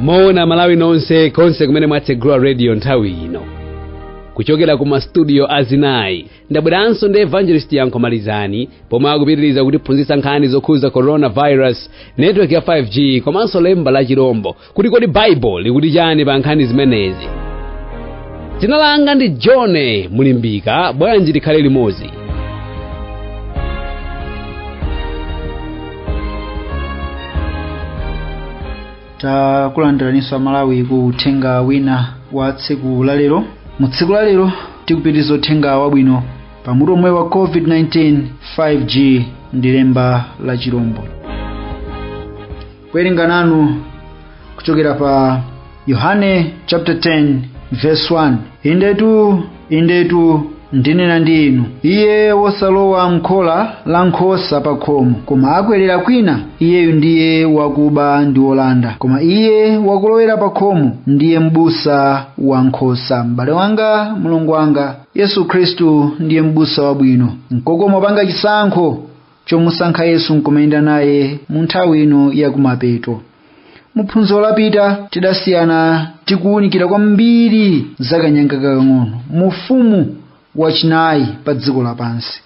moni malawi nonse konse kumene mwatsegula radio nthawi ino kuchokera ku mastudio azinayi ndabweranso ndi evangelist yankho malizani pomwe akupitiriza kutiphunzitsa nkhani zokhudza coronavirus network ya 5g komanso lemba la chirombo kuti kodi baibulo likuti chani pa nkhani zimenezi dzina langa ndi john mulimbika bwanji tikhale limodzi takulandiraninso amalawi ku uthenga wina wa tsiku lalero mu tsiku lalero tikupitiriza uthenga wabwino pa mutu omwe wa covid-19 5g ndi lemba la chirombo kuwerenga nanu kuchokera pa yohane chapter 10 verse 1 indetu indetu ndinena ndi inu iye wosalowa mkhola la nkhosa pa khomo koma akwerera kwina iyeyu ndiye wakuba ndi wolanda koma iye wakulowera pa khomo ndiye m'busa wa nkhosa m'bale wanga mlongo wanga yesu khristu ndiye m'busa wabwino nkokoma kupanga chisankho chomusankha yesu nkumayenda naye mu nthawi ino yakumapeto mu phunziro lapita tidasiyana tikuwunikira kwambiri za kanyanga kakang'ono mu ufumu wachinayi pa dziko lapansi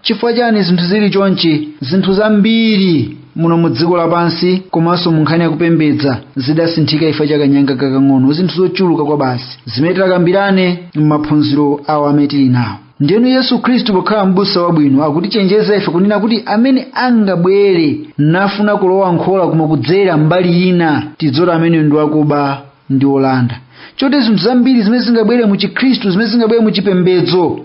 chifukwa chani zinthu zili chonchi zinthu zambiri muno mu dziko lapansi komanso mu nkhani yakupembedza zidasinthika chifukwa cha kanyanga kakang'ono zinthu zochuluka kwabasi zimene titakambirane m'maphunziro awa amene tili nawo ndiyeno yesu khristu pokhala m'busa wabwino akutichenjeza ife kunena kuti amene angabwere nafuna kulowa mkhola koma kudzera mbali ina tidziwe kuti ameneyo ndi wakuba ndi wolanda choti zinthu zambiri zimene zingabwere mu chikhristu zimene zingabwere mu chipembedzo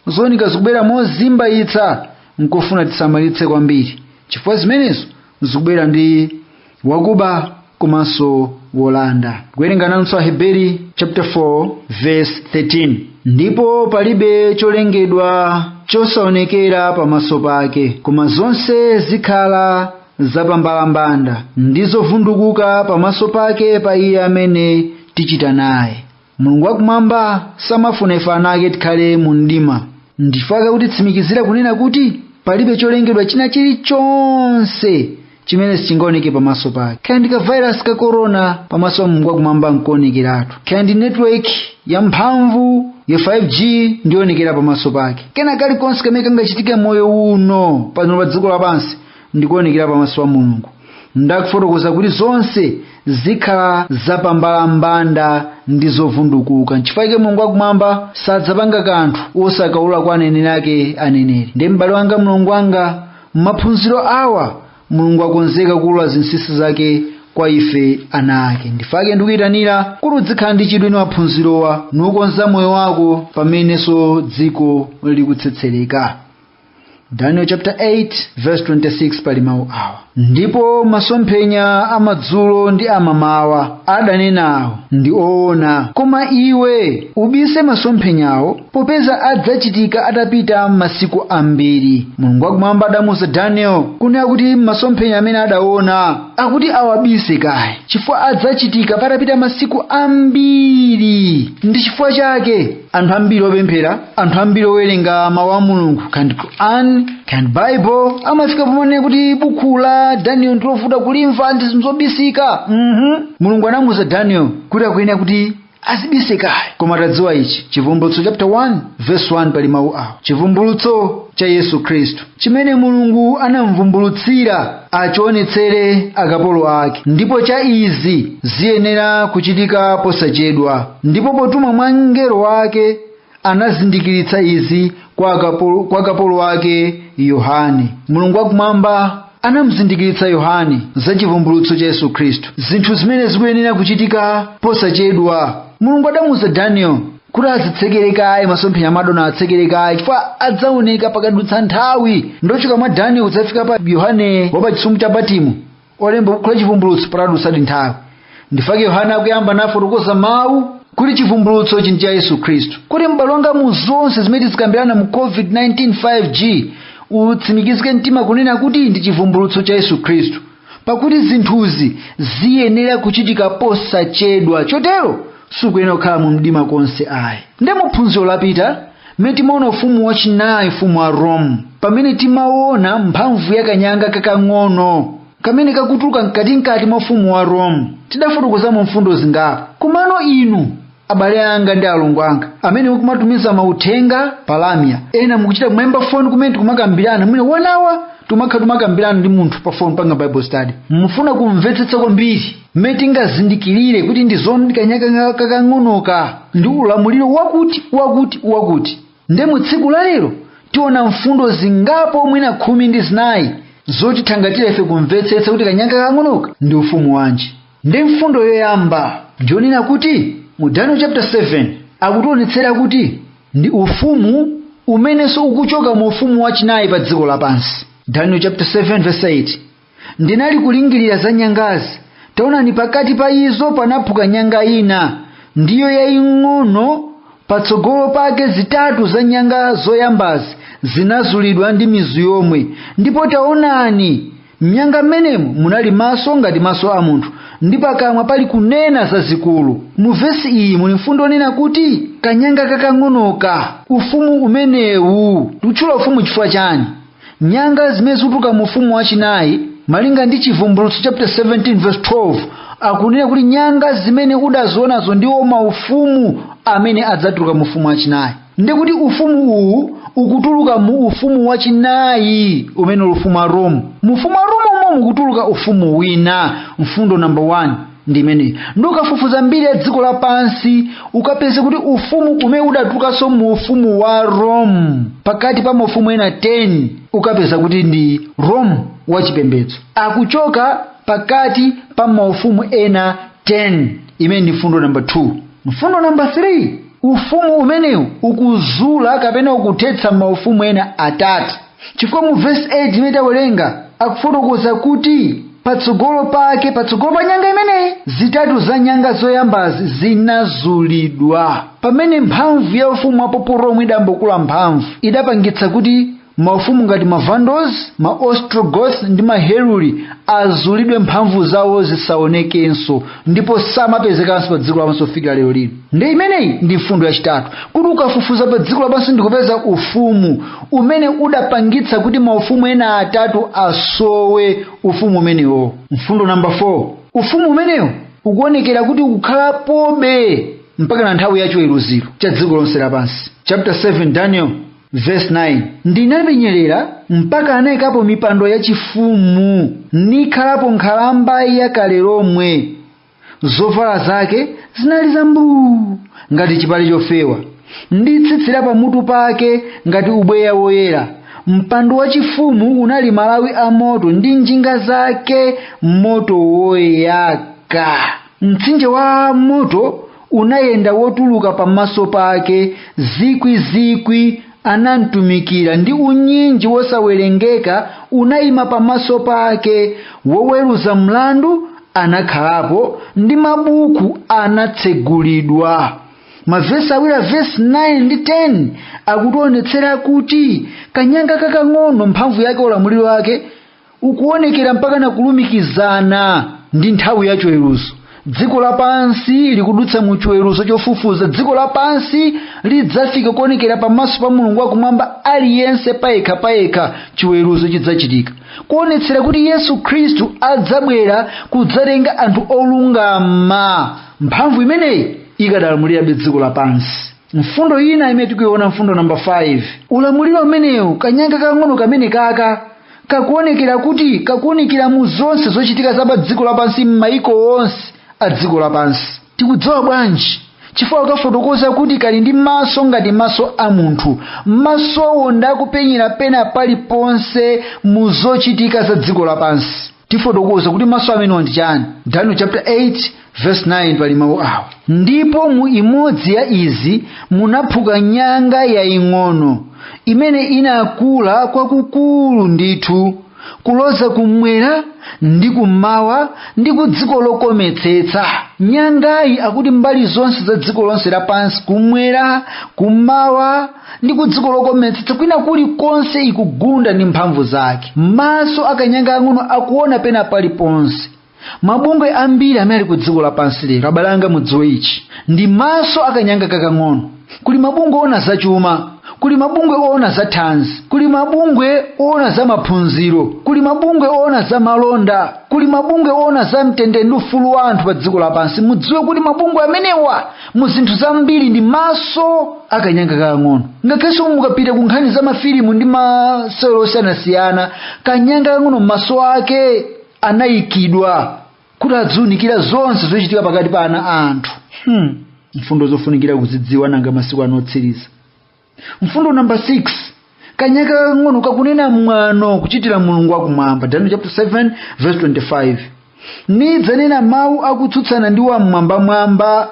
zooneka zikubwera mozimbayitsa nkofunika tisamalitse kwambiri chifukwa zimenezo zikubwera ndi wakuba komanso wolanda kuwerenga nanso aheberi chapter 4 verse 13 ndipo palibe cholengedwa chosaonekera pamaso pake koma zonse zikhala zapambalambanda ndi zovundukuka pamaso pake pa iye amene tichita naye mulungu wakumwamba samafuna ife ana ake tikhale mu mdima ndichifukwa chake akutitsimikizira kunena kuti palibe cholengedwa china chilichonse chimene sichingaoneke pamaso pake kaya ndi kavairasi ka korona pamaso pa mulungu wakumwamba nkoonekeratu kaya ndi netiweki yamphamvu ya 5g ndionekera pamaso pake kena kalikonse kamene kangachitike mmoyo uno pano pa dziko lapansi ndikuonekera pamaso pa mulungu ndikufotokoza kuti zonse zikhala zapambalambanda ndi zovundukuka nchifukwa chake mulungu wakumwamba sadzapanga kanthu osakaulula kwa aneneri ake aneneri ndiye m'bale wanga mlongo wanga m'maphunziro awa mulungu akonzeka kuulula zinsinsi zake kwa ife ana ake nchifukwa chake ndikuyitanira kuti udzikhala ndi chidwi ndi maphunzirowa ndi kukonza moyo wako pamenenso dziko likutsetsereka daniel chapter 8 verse 26 pali mawu awa ndipo masomphenya amadzulo ndi amamawa adanenawo ndi oona koma iwe ubise masomphenyawo popeza adzachitika atapita masiku ambiri mulungu wakumwamba adamuuza daniel kunena kuti masomphenya amene adaona akuti awabise kaye chifukwa adzachitika patapita masiku ambiri ndi chifukwa chake anthu ambiri opemphera anthu ambiri owerenga mawu a mulungu kandi quran kandi bible amafika pomanena kuti buku la daniel ndilovuta kulimva ndi zinthu zobisika mhm mulungu anamuuza daniel kuti akuyenera kuti azibise kaye koma tadziwa ichi chivumbulutso chapter 1 verse 1 pali mawu awa chivumbulutso cha yesu khristu chimene mulungu anamvumbulutsira achionetsere akapolo ake ndipo cha izi ziyenera kuchitika posachedwa ndipo potumwa mwa mngelo wake anazindikiritsa izi kwa kapolo wake yohane mulungu wakumwamba anamzindikiritsa yohane za chivumbulutso cha yesu khristu zinthu zimene zikuyenera kuchitika posachedwa mulungu adamuuza daniel kuti azitsekere kaye masomphenya amene adaona atsekere kaye chifukwa adzaoneka pakadutsa nthawi nde kuchoka mwa danieli kudzafika pa yohane wa pa chisumbu cha patimo olemba buku la chivumbulutso padadutsadi nthawi nchifukwa chake yohane akuyamba ndi kufotokoza mawu kuti chivumbulutso ichi ndi cha yesu khristu kuti m'bale wanga mwa zonse zimene tizikambirana mu covid-19 5g utsimikizike mtima kunena kuti ndi chivumbulutso cha yesu khristu pakuti zinthuzi ziyenera kuchitika posachedwa chotero sukuyenera kukhala mu mdima konse ayi nde mu phunziro lapita mmene timaona ufumu wachinayi ufumu wa rome pamene timaona mphamvu ya kanyanga kakang'ono kamene kakutuluka mkatimkati mwa ufumu wa rome tidafotokozamo mfundo zingapo komano inu abale anga ndi alongo anga amene mukumatumiza mauthenga pa lamya ena mukuchita kumayimba foni kumene tikumakambirana mwinanso enawa timakhala timakambirana ndi munthu pa foni kupanga bible study mukufuna kumvetsetsa kwambiri mmene tingazindikirire kuti ndi zoonadi kanyanga kakang'onoka ndi ulamuliro wakuti wakuti wakuti nde mu tsiku la lero tiona mfundo zingapo mwina khumi ndi zinayi zotithangatira ife kumvetsetsa kuti kanyanga kakang'onoka ndi ufumu wanji nde mfundo yoyamba ndiyonena kuti mu daniel chapter 7 akutionetsera kuti ndi ufumu umenenso ukuchoka mu ufumu wachinayi pa dziko lapansi daniel chapter 7 verse 8 ndinali kulingirira za nyangazi taonani pakati pa izo panaphuka nyanga ina ndiyo yaying'ono patsogolo pake zitatu za nyanga zoyambazi zinazulidwa ndi mizu yomwe ndipo taonani m'nyanga m'menemo munali maso ngati maso a munthu ndi pakamwa pali kunena zazikulu mu vesi iyi muli mfundo onena kuti kanyanga kakang'onoka ufumu umenewu tikutchula ufumu chifukwa chani nyanga zimene zikutuluka mu ufumu wachinayi malinga ndi chivumbulutso chapter 17 verse 12 akunena kuti nyanga zimene udazionazo ndiwo maufumu amene adzatuluka mu ufumu wachinayi ndikuti ufumu uwu ukutuluka mu ufumu wachinayi umene uli ufumu wa rome mu ufumu wa rome umo mukutuluka ufumu wina mfundo namba 1 ndi imeneyi nde ukafufuza mbiri ya dziko lapansi ukapeze kuti ufumu umene udatulukanso mu ufumu wa rome pakati pa maufumu ena 10 ukapeza kuti ndi rome wachipembedzo akuchoka pakati pa maufumu ena 10 imene ndi mfundo namba 2 mfundo namba 3 ufumu umenewu ukuzula kapena ukuthetsa maufumu ena atatu chifukwa mu vesi 8 imene tawerenga akufotokoza kuti patsogolo pake patsogolo pa nyanga imeneyi zitatu za nyanga zoyambazi zinazulidwa pamene mphamvu ya ufumu wa papal rome idambokula mphamvu idapangitsa kuti maufumu ngati ma vandals ma ostrogoth ndi ma heruli azulidwe mphamvu zawo zisaonekenso ndipo samapezekanso pa dziko lapansi kufikira lero lino nde imeneyi ndi mfundo yachitatu kuti ukafufuza pa dziko lapansi ndikupeza ufumu umene udapangitsa kuti maufumu ena atatu asowe ufumu umenewo mfundo namba 4 ufumu umenewo ukuonekera kuti ukukhalapobe mpaka na nthawi ya chiweruziro cha dziko lonse lapansi chapter 7 daniel Verse 9 ndinapenyerera mpaka anaikapo mipando yachifumu nikhalapo nkhalamba ya kale lomwe zovala zake zinali zambuu ngati chipale chofewa ndi tsitsi la pamutu pake ngati ubweya woyera mpando wachifumu unali malawi a moto ndi njinga zake moto woyaka mtsinje wa moto unayenda wotuluka pamaso pake zikwi zikwi anamtumikira ndi unyinji wosawerengeka unayima pamaso pake woweruza mlandu anakhalapo ndi mabuku anatsegulidwa mavesi awiri a vesi 9 ndi 10 akutionetsera kuti kanyanga kakang'ono mphamvu yake ulamuliro wake ukuonekera mpaka na kulumikizana ndi nthawi ya chiweruzo dziko lapansi likudutsa mu chiweruzo chofufuza dziko lapansi lidzafika kuonekera pamaso pa mulungu wakumwamba aliyense payekha payekha chiweruzo chidzachitika kuonetsera kuti yesu khristu adzabwera kudzatenga anthu olungama mphamvu imeneyi ikadalamulirabe dziko lapansi mfundo ina imene tikuiona mfundo namba 5 ulamuliro umenewu kanyanga kang'ono kameneka kakuonekera kuti kakuunikira mu zonse zochitika za pa dziko lapansi m'mayiko onse a dziko lapansi tikudziwa bwanji chifukwa akufotokoza kuti kali ndi maso ngati maso a munthu masowo nda kupenyera pena paliponse mu zochitika za dziko lapansi tifotokoza kuti maso amenewa ndi chani daniel chapter 8 verse 9 pali mawu awa ndipo mu imodzi ya izi munaphuka nyanga yaying'ono imene inakula kwakukulu ndithu kuloza kumwera ndi kummawa ndi ku dziko lokometsetsa nyangayi akuti mbali zonse za dziko lonse lapansi kumwera kummawa ndi ku dziko lokometsetsa kwina kulikonse ikugunda ndi mphamvu zake maso a kanyanga kang'ono akuona pena paliponse mabungwe ambiri amene ali ku dziko lapansi lero abale anga mudziwe ichi ndi maso a kanyanga kakang'ono kuli mabungwe oona zachuma kuli mabungwe oona za thanzi kuli mabungwe oona za maphunziro kuli mabungwe oona za malonda kuli mabungwe oona za mtendere ndi ufulu wa anthu pa dziko lapansi mudziwe kuti mabungwe amenewa mu zinthu zambiri ndi maso a kanyanga kakang'ono ngakhalenso mukapita ku nkhani za mafilimu ndi masewero osiyanasiyana kanyanga kang'ono maso ake anayikidwa kuti adziunikira zonse zochitika pakati pa ana a anthu hmm. mfundo zofunikira kuzidziwa nanga masiku ano otsiriza mfundo namba 6 kanyanga kakang'ono kakunena mwano kuchitira mulungu wakumwamba daniel chapter 7 verse 25 nidzanena mawu akutsutsana ndi wam'mwambamwamba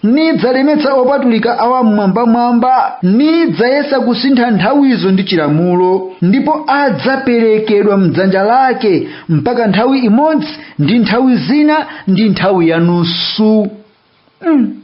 nidzalemetsa opatulika a wam'mwambamwamba nidzayesa kusintha nthawizo ndi chilamulo ndipo adzaperekedwa mdzanja lake mpaka nthawi imodzi ndi nthawi zina ndi nthawi yanusu mm.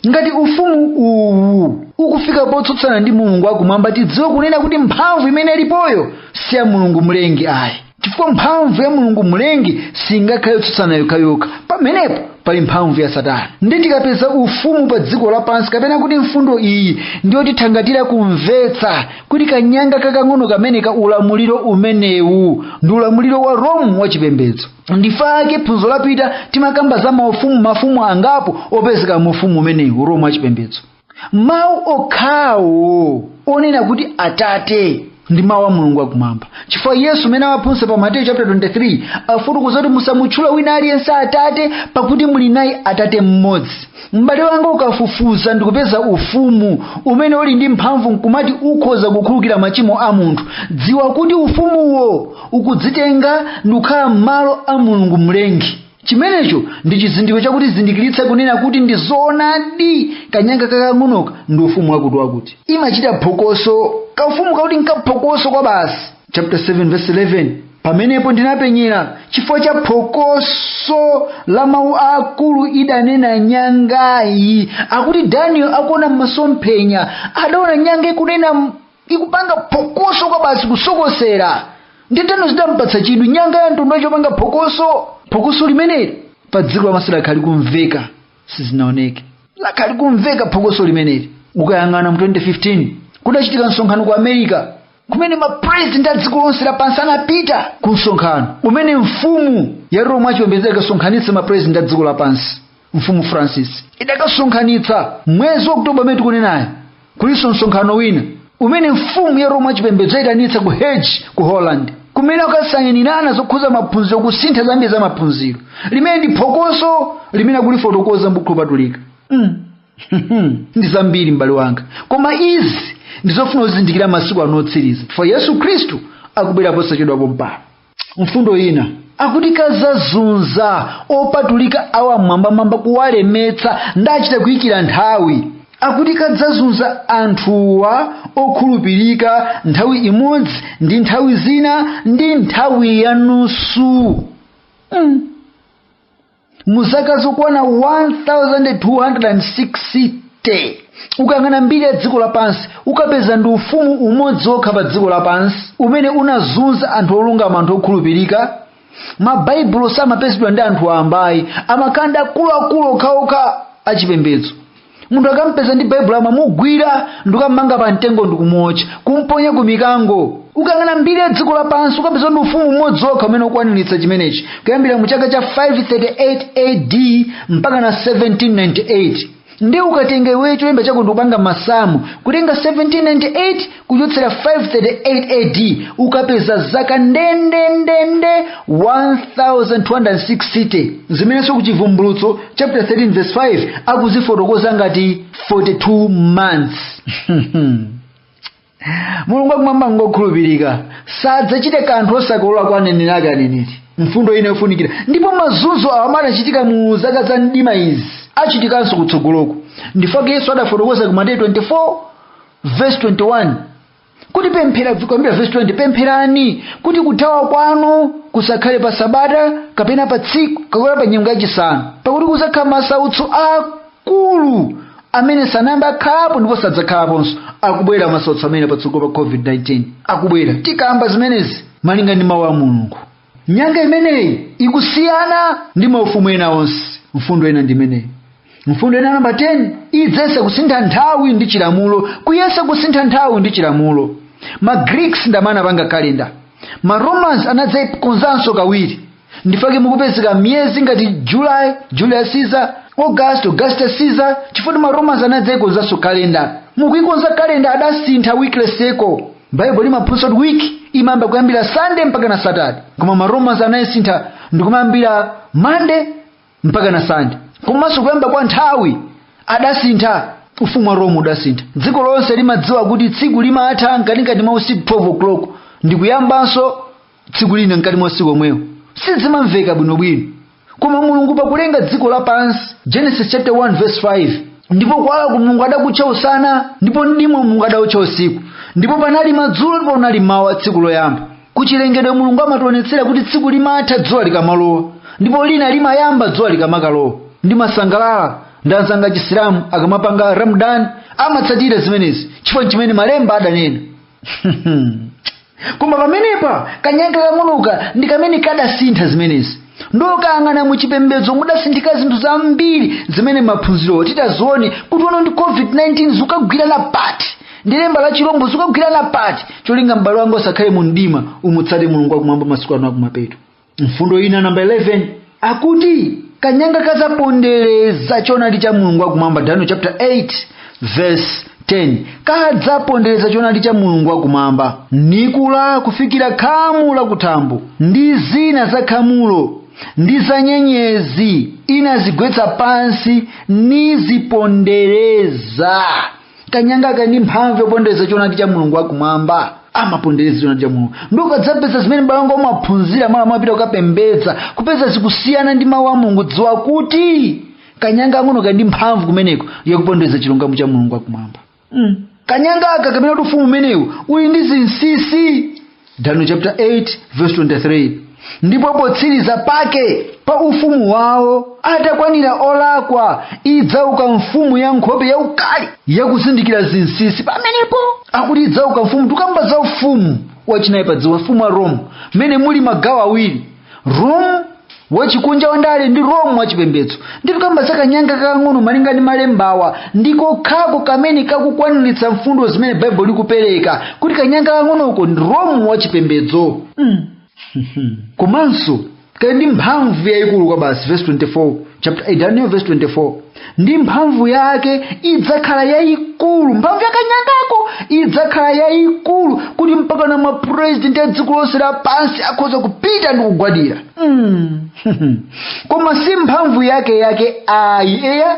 ngati ufumu uwu ukufika potsutsana ndi mulungu wakumwamba tidziwe kunena kuti mphamvu imene ilipoyo si ya mulungu mlengi ayi chifukwa mphamvu ya mulungu mlengi singakhale yotsutsana yokhayokha pamenepo pali mphamvu ya satana ndi tikapeza ufumu pa dziko lapansi kapena kuti mfundo iyi ndiyotithangatira kumvetsa kuti kanyanga kakang'ono kameneka ulamuliro umenewu ndi ulamuliro wa rome wachipembedzo ndife ake phunziro lapita timakamba za maufumu mafumu angapo opezeka mu ufumu umenewu uromu wa chipembedzo mawu okhawo onena kuti atate ndi mawu a mulungu akumwamba chifukwa yesu m'mene amaphunzitsa pa mateyu chapter 23 akufotokoza kuti musamutchule wina aliyense atate pakuti muli naye atate mmodzi m'bale wanga ukafufuza ndikupeza ufumu umene uli ndi mphamvu nkumati ukhoza kukhulukira machimo a munthu dziwa kuti ufumuwo ukudzitenga ndikukhala m'malo a mulungu mlengi chimenecho ndi chizindikiro chakutizindikiritsa kunena kuti ndi zoonadi kanyanga kakang'onoka ndi ufumu wakuti wakuti kamachita phokoso kaufumu kakuti nkaphokoso kwa basi chapter 7 verse 11 pamenepo ndinapenyera chifukwa cha phokoso la mawu aakulu idanena nyangayi akuti daniel akuona m'masomphenya adaona nyanga ikunena m- ikupanga phokoso kwa basi kusokosera ndiye daniel zidampatsa chidwi nyanga ya mtundu wanji yopanga phokoso phokoso limeneli pa dziko lapansi lakhala likumveka sizinaoneke lakhala likumveka phokoso limeneli ukayang'ana mu 2015 kudachitika msonkhano ku america kumene mapurezidenti a dziko lonse lapansi anapita ku msonkhano umene mfumu ya roma wachipembedzo idakasonkhanitsa mapurezidenti a dziko lapansi mfumu francis idakasonkhanitsa mwezi wa oktoba umene tikunenawu kulinso msonkhano wina umene mfumu ya roma wachipembedzo yaitanitsa ku hague ku holland kumene akasainirana zokhuza maphunziro kusintha zambiri za maphunziro limene ndi phokoso limene akulifotokoza mbukhu lopatulika mm. ndi zambiri m'bale wanga koma izi ndizofuna uzizindikira masiku ano otsiriza chifukwa yesu khristu akubwera posachedwa pompano mfundo ina akuti kadzazunza opatulika a wam'mwambamwamba kuwalemetsa ndiye achita kuyikira nthawi akuti kadzazunza anthuwa okhulupirika nthawi imodzi ndi nthawi zina ndi nthawi yanusu mm. mu zaka zokwana 1260 ukayang'ana mbiri ya dziko lapansi ukapeza ndi ufumu umodzi wokha pa dziko lapansi umene unazunza anthu olungama anthu okhulupirika mabaibulo samapezedwa ndi anthu wambayi amakhala ndi akuluakulu okhaokha achipembedzo munthu akampeza ndi baibulo amamugwira ndikummanga pa mtengo ndikumuotcha kumponya ku mikango ukayang'ana mbiri ya dziko lapansi ukapeza ndi ufumu umodzi wokha umene ukukwaniritsa chimenechi kuyambira mu chaka cha 538 ad mpaka na 1798 ndi ukatenga iweyo cholemba chako ndikupanga masamu kutenga 1798 kuchotsera 538 ad ukapeza zaka ndendendende 1260 zimenenso ku chivumbulutso chapter 13 verse 5 akuzifotokoza ngati 42 months mulungu akumwamba ngokhulupirika sadzachite kanthu osakolola kwa aneneri ake aneneri mfundo ina yofunikira ndipo mazunzo awo adachitika mu zaka za mdima izi achitikanso kutsogoloku ndifake yesu adafotokoza ku mateyu 24 vesi 21 kuti pemphera kuyambira vesi 20 pempherani kuti kuthawa kwanu kusakhale pa sabata kapena pa tsiku kapena pa nyengo yachisanu pakuti kudzakhala masautso akulu amene sanayamba akhalapo ndipo sadzakhalaponso akubwera masautso amene patsogolo pa covid-19 akubwera tikamba zimenezi malinga ndi mawu a mulungu nyanga imeneyi ikusiyana ndi maufumu ena onse mfundo ina ndimeneyi mfundo ina namba 10 idzayesa kusintha nthawi ndi chilamulo kuyesa kusintha nthawi ndi chilamulo ma greeks ndi amene anapanga kalenda ma romans anadzayikonzanso kawiri ndifake mukupezeka miyezi ngati july julius caesar august augustus caesar chifukwa ma romans anadzayikonzanso kalenda mukuyikonza kalenda adasintha weekly cycle baibulo limaphunzitsa kuti wiki imayamba kuyambira sande mpaka na satade koma maromans anayisintha ndikumayambira mande mpaka na sande komanso kuyamba kwa nthawi adasintha ufumu wa rome udasintha dziko lonse limadziwa kuti tsiku limatha mkatikati mwa usiku 12 o'clock ndikuyambanso tsiku lina mkati mwa usiku omwewo sizimveka bwinobwino koma mulungu pakulenga dziko lapansi genesis chapter 1 verse 5 ndipo kuwalaku mulungu adakutcha usana ndipo mdima mulungu adawutcha usiku ndipo panali madzulo ndipo panali mawa tsiku loyamba kuchilengedwe mulungu amationetsera kuti tsiku limatha dzuwa likamalowa ndipo lina limayamba dzuwa likamakalowa ndimasangalala ndi anzanga achisilamu akamapanga ramadan amatsatira zimenezi chifukwa ndi chimene malemba adanena koma pamenepa kanyanga kang'onoka ndi kamene kadasintha zimenezi ndikayang'ana mu chipembedzo mudasinthika zinthu zambiri zimene maphunzirowo tidzaone kuti ono ndi covid-19 zikugwirana pati ndi lemba la chilombo zikugwirana pati cholinga m'bale wanga usakhale mu mdima umutsate mulungu wakumwamba masiku ano akumapeto mfundo ina namba 11 akuti kanyanga kadzapondereza choonadi cha mulungu wakumwamba daniel chapter 8 verse 10 kadzapondereza choonadi cha mulungu wakumwamba nikula kufikira khamu lakuthambo ndi zina za khamulo ndi za nyenyezi inazigwetsa pansi nizipondereza kanyangaka kali ndi mphamvu yakupondereza choonadi cha mulungu wakumwamba amapondereza choonadi cha mulungu nde ukadzapeza zimene baibulo mwaphunzira mwina mwapita kukapembedza kupeza zikusiyana ndi mawu a mulungu dziwa kuti kanyanga kang'ono kali ndi mphamvu kumeneko yakupondereza chilungamo cha mulungu wakumwamba mm. kanyangaka kamene akuti ufumu umenewu uli ndi zinsisi daniel chapter 8 verse 23 ndipo potsiriza pake pa ufumu wawo atakwanira olakwa idzauka mfumu ya nkhope yaukali yakuzindikira zinsinsi pamenepo akuti idzauka mfumu tikukamba za ufumu wachinayi pa dziko ufumu wa rome mmene muli magawo awiri rome wachikunja wandale ndi rome wachipembedzo nde tikukamba za kanyanga kakang'ono malinga ndi malembawa ndi kokhako kamene kakukwaniritsa mfundo zimene baibulo likupereka kuti kanyanga kakang'onoko ndi rome wachipembedzo mm. komanso kali ndi mphamvu yayikulu kwabasi verse 24 chapter 8 daniel verse 24 ndi mphamvu yake idzakhala yayikulu mphamvu ya kanyangako idzakhala yayikulu kuti mpaka na mapurezidenti a dziko lonse lapansi akhoza kupita ndi kugwadira mm. koma si mphamvu yake yake ayi eya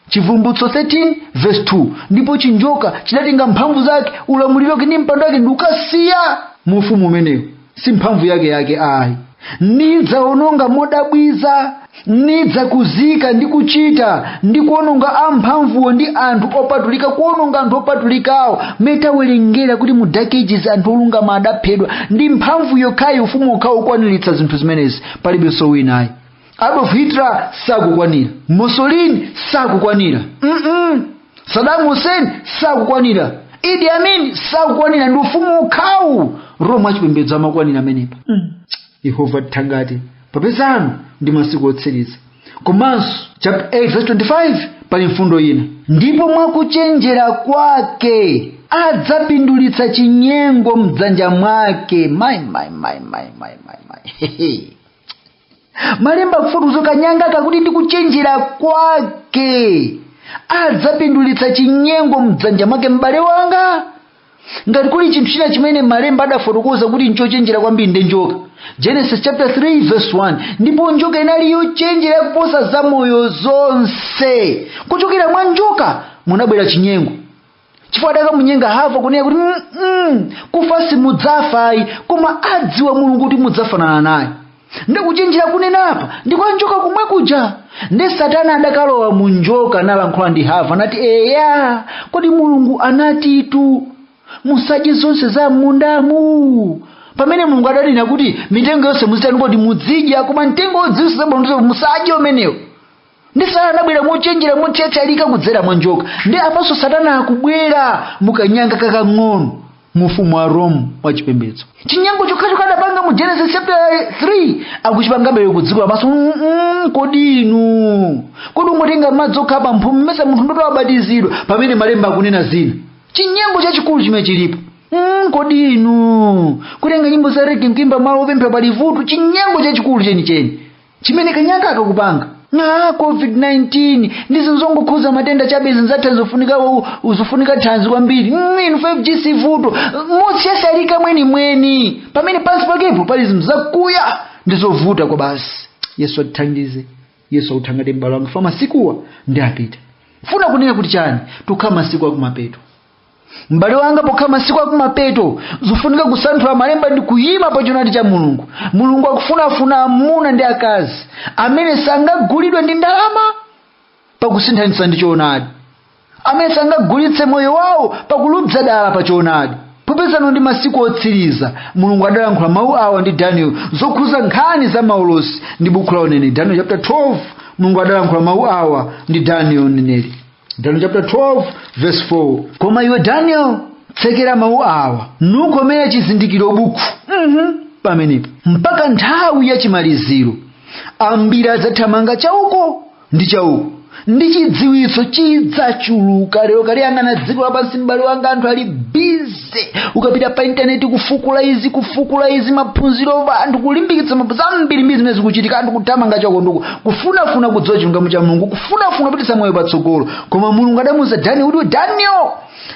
chivumbutso 13 verse 2 ndipo chinjoka chidatenga mphamvu zake ulamuliro wake ndi mpando wake ndikukasiya mu ufumu umenewu si mphamvu yake yake ayi nidzaononga modabwitsa nidzakuzika ndi kuchita ndi kuononga amphamvuwo ndi anthu opatulika kuononga anthu opatulika umo tawerengera kuti mu dark ages anthu olungama adaphedwa ndi mphamvu yokhayi ufumu wokhawu ukukwaniritsa zinthu zimenezi palibenso wina ayi adolf hitler sakukwanira mussolini sakukwanira mm saddam hussein sakukwanira idi amin sakukwanira ndi ufumu wokhawu roma wachipembedzo amakwanira pamenepa yehova tithangate popeza ano ndi masiku otsiriza komanso chapter 8 verse 25 pali mfundo ina ndipo mwakuchenjera kwake adzapindulitsa chinyengo mdzanja mwake mai mai mai mai mai mai mai malemba akufotokoza kanyangaka kuti ndi kuchenjera kwake adzapindulitsa chinyengo mdzanja mwake m'bale wanga ngati kuli chinthu china chimene malemba adafotokoza kuti nchochenjera kwambiri nde njoka genesis chapter 3 verse 1 ndipo njoka inali yochenjera yakuposa zamoyo zonse kuchokera mwa njoka munabwera chinyengo chifukwa adakamunyenga hava kunena kuti "Mm, mm, kufa simudzafa ayi koma adziwa mulungu kuti mudzafanana naye nde kuchenjera akunenapa ndi kwa njoka komwe kuja nde satana adakalowa mu njoka nalankhula ndi hava nati eya kodi mulungu anatitu musadye zonse za m'mundamu pamene mulungu adanena kuti mitengo yonse muzitani kodi mudzidya koma mtengo wodziwitsa zabwino ndi zoipa musadye umenewo ndi satana anabwera mochenjera mothyathyalika kudzera mwa njoka ndi apanso satana akubwera mukanyanga kakang'ono mu ufumu wa rome wa chipembedzo chinyengo chokhacho adapanga mu genesis chapter 3 akuchipangabe ku dziko lapansi Mm-mm, kodi inu kodi ungotenga madzi okha pa mphumi kumuyesa munthu ndiye kuti abatizidwa pamene malemba akunena zina chinyengo chachikulu chimene chilipo Mm, kodi inu kutenga nyimbo za rege nkuimba malo opemphera palibe vuto chinyengo chachikulu chenicheni chimene kanyanga aka kakupanga na covid-19 ndizo zongokhuza matenda chabe zidzatha zofunika zofunika thanzi kwambiri Mm, inu 5g si vuto mothyathyalika mwenimweni pamene pansi pakepo pali zinthu zakuya ndi zovuta kwa basi yesu atithandize yesu akuthangatire m'bale wanga chifukwa masikuwa ndi apa ndikufuna kunena kuti chani tikukhala masiku akumapeto m'bale wanga pokhala masiku akumapeto zofunika kusanthula malemba ndi kuyima pa choonadi cha mulungu mulungu akufunafuna amuna ndi akazi amene sangagulidwe ndi ndalama pakusinthanitsa ndi choonadi amene sangagulitse moyo wawo pakuluza dala pa choonadi popeza ano ndi masiku otsiriza mulungu adalankhula mawu awa ndi daniel zokhuza nkhani za maulosi ndi bukhu la uneneri daniel chapter 12 mulungu adalankhula mawu awa ndi daniel uneneri Daniel chapter 12 verse 4 koma iwe daniel tsekera mawu awa nukomere chizindikiro buku mm-hmm. pamenepo mpaka nthawi ya chimaliziro ambiri adzathamanga chauko ndi chauko ndi chidziwitso chidzachuluka lero ukaliyang'ana dziko lapansi m'bale wanga anthu ali bizi zonse ukapita pa intaneti kufukula izi kufukula izi maphunziro anthu kulimbikitsa mab- zambirimbiri zimene zikuchitika anthu kuthamanga chauko ndi uko kufunafuna kudziwa chilungamo cha mulungu kufunafuna kupititsa moyo patsogolo koma mulungu adamuuza daniel kuti daniel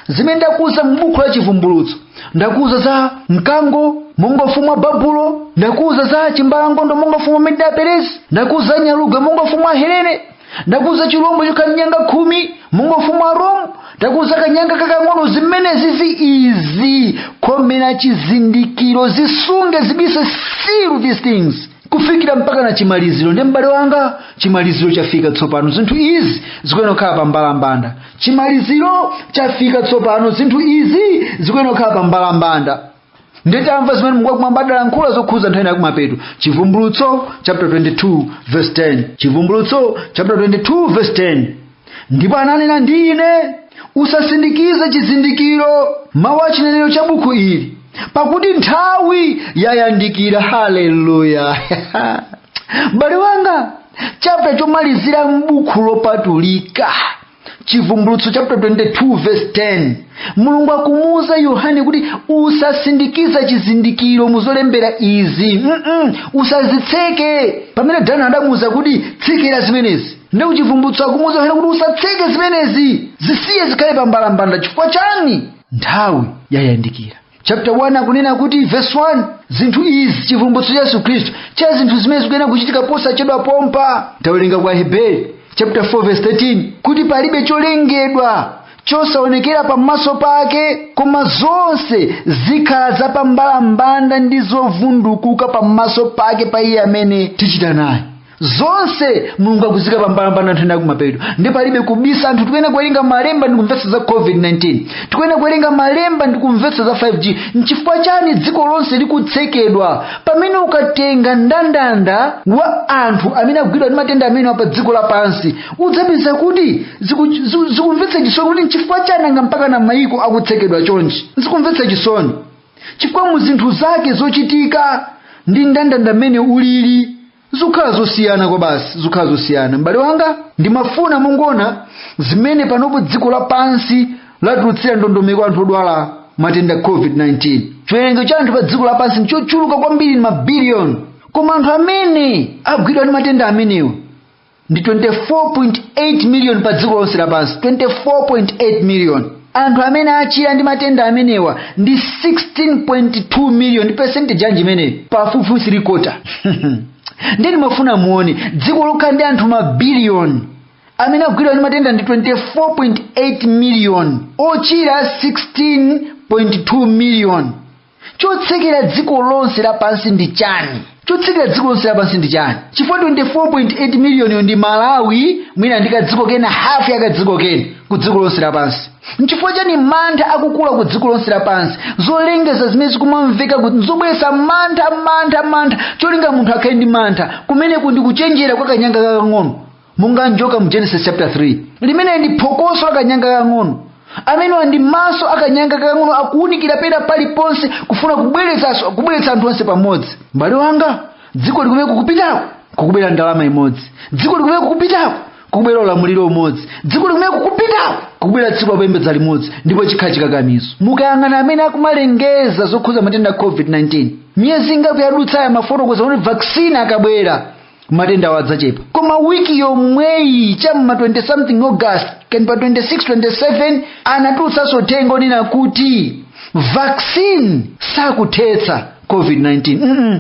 zimene ndakuuza m'buku la chivumbulutso ndakuuza za mkango monga ufumu wa babulo ndakuuza za chimbalangondo monga ufumu wa medea peresi ndakuuza za nyalugwe monga ufumu wa helene ndakuuza chilombo chokhala ndi nyanga khumi monga ufumu wa rome ndakuuza kanyanga kakang'ono zimenezi zi izi komera chizindikiro zisunge zibise seal these things kufikira mpaka na chimaliziro ndi m'bale wanga chimaliziro chafika tsopano zinthu izi zikuyenera kukhala pa mbalambanda chimaliziro chafika tsopano zinthu izi zikuyenera kukhala pa mbalambanda ndiye tamva zimene mulungu wakumwamba adalankhula zokhudza nthawi ya kumapeto chivumbulutso chapter 22 verse 10 chivumbulutso chapter 22 verse 10 ndipo ananena ndi ine usasindikize chizindikiro mawu a chinenero cha buku ili pakuti nthawi yayandikira haleluya m'bale wanga chapter chomalizira m'buku lopatulika chivumbulutso chapter 22 verse 10 mulungu akumuwuza yohane kuti usasindikiza chizindikiro muzolembera izi Mm-mm, usazitseke pamene danieli adamuwuza kuti tsekera zimenezi ndi kuchivumbulutso akumuwuza yohane kuti usatseke zimenezi zisiye zikhale pambalambanda chifukwa chani nthawi yayandikira chapter 1 akunena kuti verse 1 zinthu izi chivumbulutso cha yesu khristu cha zinthu zimene zikuyenera kuchitika posachedwa pompa tawerenga kwa aheberi chapter 4 verse 13 kuti palibe cholengedwa chosaonekera pamaso pake koma zonse zikhala zapambalambanda ndi zovundukuka pamaso pake pa iye amene tichita naye zonse mulungu akuzika pambalambanda nthawi yakumapeto ndi palibe kubisa anthu tikuyenera kuwerenga malemba ndi kumvetsa za covid-19 tikuyenera kuwerenga malemba ndi kumvetsa za 5g nchifukwa chani dziko lonse likutsekedwa pamene ukatenga ndandanda wa anthu amene agwidwa ndi matenda amenewa pa dziko lapansi udzapeza kuti ziku- ziku- zikumvetsa chisoni kuti nchifukwa chani nanga mpakana mayiko akutsekedwa chonchi zikumvetsa chisoni chifukwa mu zinthu zake zochitika ndi ndandanda mmene ulili zikukhala zosiyana kwabasi zikukhala zosiyana m'bale wanga ndimafuna mungoona zimene panopo dziko lapansi latulutsira ndondomeko anthu odwala matenda covid-19 chiwerengero cha anthu pa dziko lapansi ndichochuluka kwambiri ndi mabiliyoni koma anthu amene agwidwa ndi matenda amenewa ndi 24.8 miliyoni pa dziko lonse lapansi 24.8 miliyoni anthu amene achira ndi matenda amenewa ndi 16.2 miliyoni ndi percentage yanji imeneyo pafupifupi firikota ndiye ndimafuna muone dziko lokhala ndi anthu mabiliyoni amene agwidwa ndi matenda ndi 24.8 miliyoni ochira 16.2 miliyoni chotsekera dziko lonse lapansi ndi chani chotsekera dziko lonse lapansi ndi chani chifukwa 24.8 miliyoniyo ndi malawi mwina ndi kadziko kena hafu ya kadziko kena ku dziko lonse lapansi nchifukwa chani mantha akukula ku dziko lonse lapansi zolengeza zimene zikumamveka kuti nzobweretsa mantha mantha mantha cholinga munthu akhale ndi mantha kumeneku ndi kuchenjera kwa kanyanga kakang'ono monga njoka mu genesis chapter 3 limeneli ndi phokoso la kanyanga kang'ono amenewa ndi maso akanyanga kang'ono akuwunikira pena paliponse kufuna kubweretsa anthu onse pamodzi mbale wanga dziko ili kumene kukupitako kukubwera ndalama imodzi dziko ili kumene kukupitako kukubwera ulamuliro umodzi dziko ili kumene kukupitako kukubwera tsiku lopembedza limodzi ndipo chikhala chikakamizo mukayang'ana amene akumalengeza zokhuza matenda a covid-19 miyezi ingapo yadutsayi amafotokoza kuti vaccine akabwera matendawo adzachepa koma wiki yomweyi chamma 20 something august kani pa 26 27 anatulutsanso uthenga onena kuti vaccine sakuthetsa covid-19 mm -mm.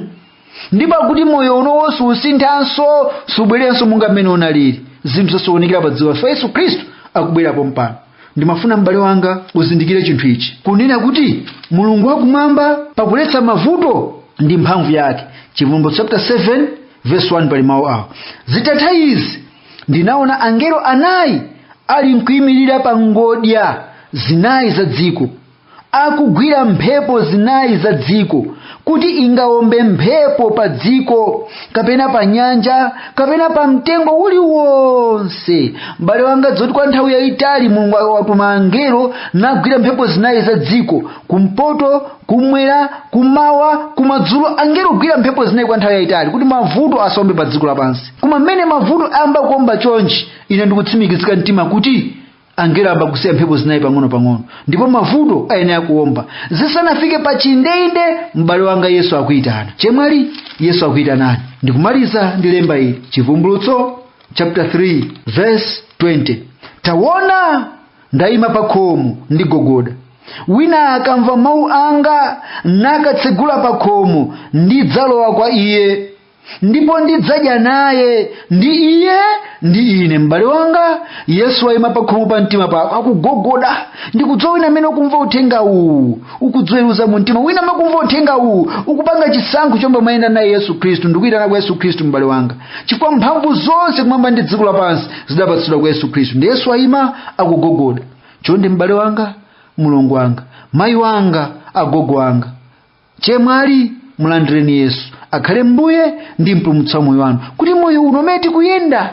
ndipo akuti moyo unowo susinthanso subwereranso monga mmene unalili zinthu zasokonekera pa dziko lapansi yesu khristu akubwera pompano ndimafuna m'bale wanga uzindikire chinthu ichi kunena kuti mulungu wakumwamba pakuletsa mavuto ndi mphamvu yake chivumbulutso chapter 7 verse 1 pali mawu awo zitatha izi ndinaona angelo anayi ali nkuyimirira pa ngodya zinayi za dziko akugwira mphepo zinayi za dziko kuti ingawombe mphepo pa dziko kapena pa nyanja kapena pa mtengo uliwonse m'bale wanga dziwa kuti kwa nthawi yayitali mulungu watuma angelo nagwira mphepo zinayi za dziko kumpoto kumwera kumawa kumadzulo angelo kugwira mphepo zinayi kwa nthawi yayitali kuti mavuto asaombe pa dziko lapansi koma mmene mavuto ayamba kuomba chonchi ine ndikutsimikizika mtima kuti angelo ayamba kusiya mphepo zinayi pang'ono-pang'ono ndipo mavuto ayenera kuomba zisanafike pa chindeinde m'bale wanga yesu akuyitana chemwali yesu akuyitanani ndikumaliza ndi lemba ili chivumbulutso chapter 3 verse 20 tawona ndayima pa khomo ndigogoda wina akamva mawu anga nakatsegula pa khomo ndidzalowa kwa iye ndipo ndidzadya naye ndi iye ndi ine m'bale wanga yesu wayima pakhomo pa mtima pako akugogoda ndikudziwa wina amene ukumva uthenga uwu ukudziweruza mu mtima wina amene ukumva uthenga uwu ukupanga chisankho chomwe umayenda naye yesu khristu ndikuyitana kwa yesu khristu m'bale wanga chifukwa mphamvu zonse kumwamba ndi dziko lapansi zidapatsidwa kwa yesu khristu ndi yesu wayima akugogoda chonde m'bale wanga mlongo wanga mayi wanga agogo wanga chemwali mulandireni yesu akhale mbuye ndi mpulumutsi wa moyo wanu kuti moyo uno umene tikuyenda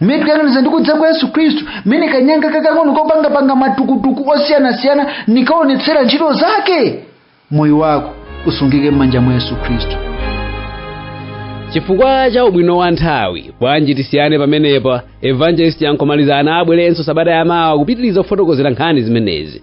mmene tikuyang'aniza ndi kudza kwa yesu khristu mmene kanyanga kakang'ono kapangapanga matukutuku osiyanasiyana nikaonetsera ntchito zake moyo wako usungike m'manja mwa yesu khristu chifukwa cha ubwino wa nthawi bwanji tisiyane pamenepa evangelist yankomalizana abweranso sabata yamawa kupitiriza kufotokozera nkhani zimenezi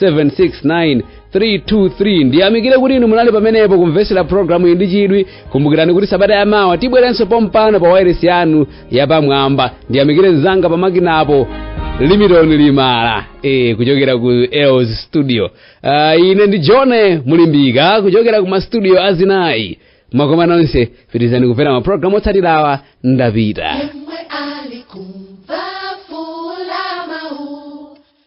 769 323 ndiyamikire kuti inu munali pamenepo kumvetsera programu iyi ndi chidwi kumbukirani kuti sabata yamawa tibweranso pompano pa wairesi yanu yapamwamba ndiyamikire mzanga pamakinapo limitoni limala e, kuchokera ku els studio uh, ine ndi johne mulimbika kuchokera ku mastudio azinayi makoma nonse pitirizani kumvera mapulogalamu otsatirawa ndapita